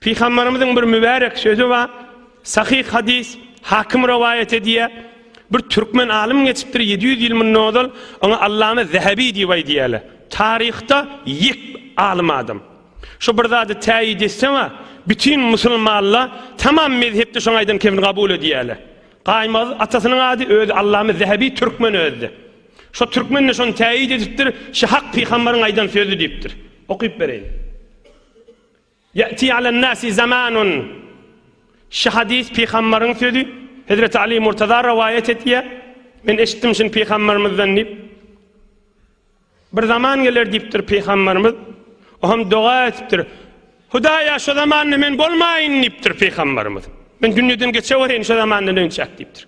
Pygamberimiziň bir mübärek sözi bar, Sahyh hadys, Hakim rowaýat edýär. Bir türkmen alym geçipdir ýedi ýüz ýyl mundan ozal, oňa Allama Zähebi diýip aýdýarlar. Taryhda ýek alym adam. Şu bir zady täýit etsem-ä, bütin musulmanlar tamam mezhepde şoň aýdan kemini kabul edýärler. Gaýmaz atasynyň ady özi Allama Zähebi türkmen özi-de. Şo türkmen-de şony täýit edipdir, Şy hak pygamberyň aýdan sözi diýipdir. Okyp bereýin. Ýa'ti alen-nasi zamanun Şu hadys pygambaryň sözi, Hezreti Ali Murtaza rowaýat etýär, Men eşitdim şuny pygambarymyzdan diýip, Bir zaman geler diýipdir pygambarymyz, o hem doga etipdir, Hudaýa şu zamanda men bolmaýyn diýipdir pygambarymyz, Men dünýeden geçewereýin şu zamandan önçäk diýipdir.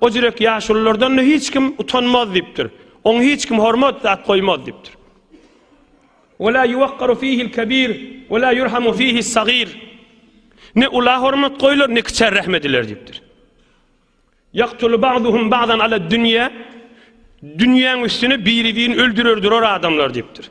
O jürek ýaşululardan-da hiç kim utanmaz diýipdir. Oňa hiç kim hormat at goýmaz diýipdir. Ve la yuwakkaru fihil kebir ve la yurhamu fihis sagir. Ne ula hormat goýlar, ne kiçä rahm ediler diýipdir. Yaqtulu ba'duhum ba'dan ala dünya. Dünýäň üstüne biri-birini öldürerdir or adamlar diýipdir.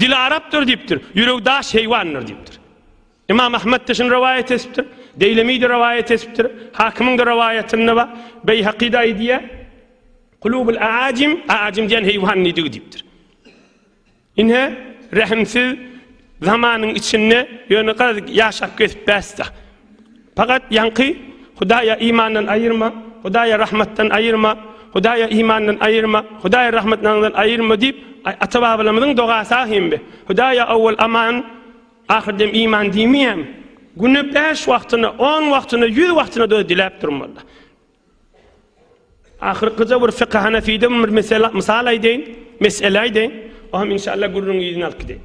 Dili arapdyr diýipdir, ýüregi daş heýwandyr diýipdir. Ymam Ahmet-de şuny rowaýat etipdir, Deýlemi-de rowaýat etipdir, Hakymyň-da rowaýatynda bar, Beýhaky-da aýdýar, Kulubul aajim, aajim diýen heýwan nidigi diýipdir. Ine, rehimsiz zamanyň içinde ýöne garaz ýaşap gezip bäsda. Fakat yaňky Hudaýa imandan aýyrma, Hudaýa rahmatdan aýyrma, Hudaýa imandan aýyrma, Hudaýa rahmatnandan aýyrma diýip ata-babalarymyzyň dogasy ahimbi. Hudaýa awwal aman, ahyrdem iman diýmeýämi? Güne bäş wagtyna, on wagtyna, ýüz wagtyna da diläp durmaly. Ahyrkyja bir fykha hanafiden bir mesele, mysal aýdaýyn, mesele aýdaýyn. Oňa inşallah gürrüňi ýüzüne alyp gideýin.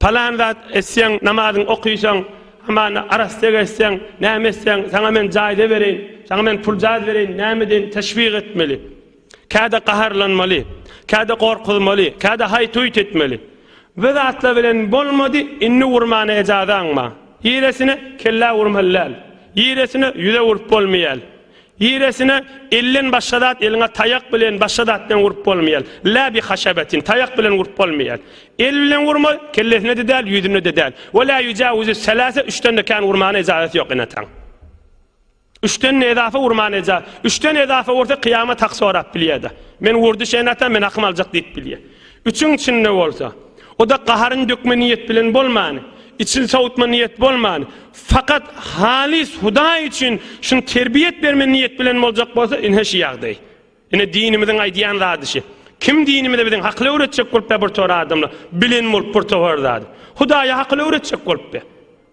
Palan zat etseň, namazyňy okyşaň, aman arassa gezseň, näme etseň, saňa men jaýda bereýin, saňa men puljaz bereýin, näme deýin, teşwik etmeli. Käde gaharlanmaly, käde gorkuzmaly, käde haýt-huýt etmeli. Bu zatlar bilen bolmady, indi urmana ejazaň bar. Ýeresine kellä urmaly däl. Ýeresine ýüze urup bolmaýal. Giresine elden başga zat eliňe taýak bilen başga zat bilen urup bolmaýar. La bi haşabetin taýak bilen urup bolmaýar. El bilen urma kellesine de däl ýüzüne de däl. Ve la yujawizu selase üçden de kän urmana ijazat ýok enataň. Üçden ne edafa urmana ija. Üçden edafa ursa kıyamet hak sorap bilýär de. Men urdy şeýnata men hakym aljak diýip bilýär. Üçüň içinde bolsa, o-da gaharyn dökme niýet bilen bolman, içini sowutma niýet bolman, fakat halys Hudaý üçin şuny terbiýet berme niýet bilen boljak bolsa, ine şu ýagdaý. Ine dinimiziň aýdýan zady şu. Kim dinimizde biziň hakyly öwretjek bolupda bir tor adamlar, bilen bolup bir tohar zady. Hudaýa hakyly öwretjek bolupda.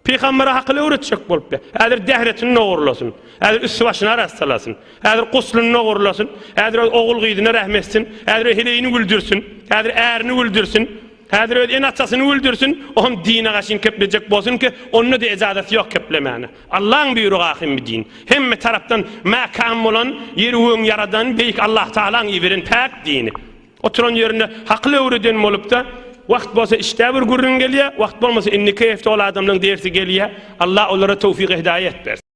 Pygambere hakyl öwretjek bolupdy. Häzir dehretini nogurlasyn. Häzir üsti-başyny arassalasyn. Häzir guslyny nogurlasyn. Häzir öz ogul-gyzyna rehm etsin. Häzir öz heleýini güldürsin. Häzir ärini güldürsin. Häzir öz ene-atasyny güldürsin. Oňam dine gaşyn keplejek bolsun ki, onda-da ejazat ýok keplemäne. Allaň buýrugy ahim bi din. Hemme tarapdan mäkäm bolan, ýeri öň ýaradan Beýik Allahtagalaň iberen päk dini. Oturan ýerinde hakyl öwreden bolupda wagt bolsa işdä bir gürrüň gelýä wagt bolmasa indiki hepde ol adamlaň dersi gelýä Alla olara towfyk hidaýet bersin.